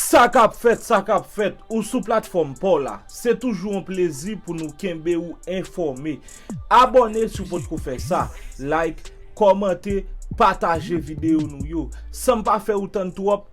Sa kap fèt, sa kap fèt, ou sou platfòm paw la. Se toujou yon plezi pou nou kenbe ou enfòme. Abòne si w potko fè sa, like, kòmante, pataje videyo nou yo. San m pa fè ou tann twòp,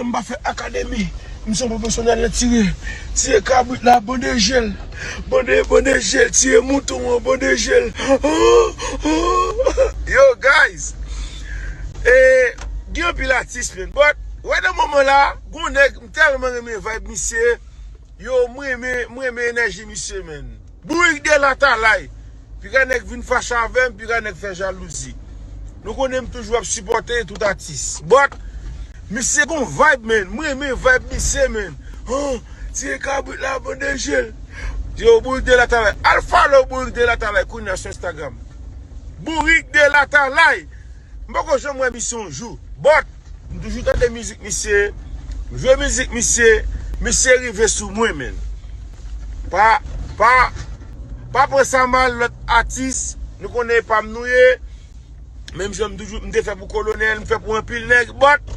Mwen pa fè akademi, m se yon pwofesyonèl nan tire, tire kabrit la, bande je l, bande, bande je l, tire mouton an, bande je l, ooh, ooh. Yo guys! Gen anpil atis menn but right nan moman la gen yon nèg m tèlman renmen vibe misye, yo m renmen, m renmen enèji misye menn. Bourik de latalay! Pika nèg vin fache avè m, pika nèg fè jalouzi. Nou konnen m toujou ap sipòte tout atis. But, misye gon vayb man, m renmen vayb misye man. Huh! Tiye kabrit la avan de je l. Yo, Bourik de latalay. Al follow Bourik de latalay kounya sou Instagram. Bourik de latalay! M poko janm wè misye yon jou but m toujou tande mizik misye, m jwe mizik misye, misye rive sou mwen man. Pa pa pa pran sa mal lòt atis nou konnen e pam nou ye, menm jan m toujou m te fè pou kolonèl m fè pou anpil nèg but.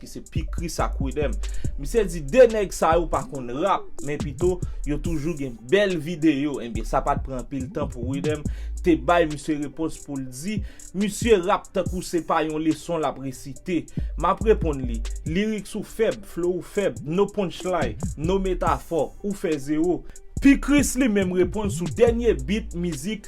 ki se P Chris ak Wideem. Misye di 2 nèg sa yo pa konn rap, men pito yo toujou gen bèl videyo. Ebyen sa pat pran anpil tan pou Wideem te bay misye repons pou l di misye rap tankou se pa yon leson l ap resite. M ap reponn li, lyrics ou fèb, flow ou fèb, no punchline, no metaphor, ou fè zewo. P Chris li menm reponn sou dènye beat mizik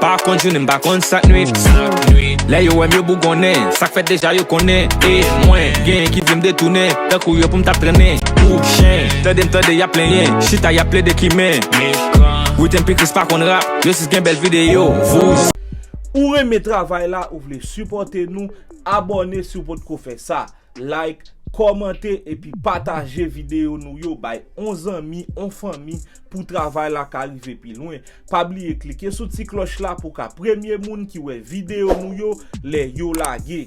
Pa konn jounen m pa konn sak nwit Lè yo wè m yo bougonnen Sak fèt deja yo konnen E mwen genyen ki vle m detounen Tankou yo pou m t ap trennen Kou chen Tande m tande y ap plenyen Chita y ap plede ki men Witèm pi kris pa konn rap Yo sis gen bèl videyo Vouzan. Ou renmen travay la ou vle sipòte nou abòne si w potko fè sa like kòmante epi pataje videyo nou yo bay on zanmi on fanmi Pou travay la ka rive pi lwen, pa bliye klike sou ti klòch la pou w ka premye moun ki wè videyo nou yo lè yo lage.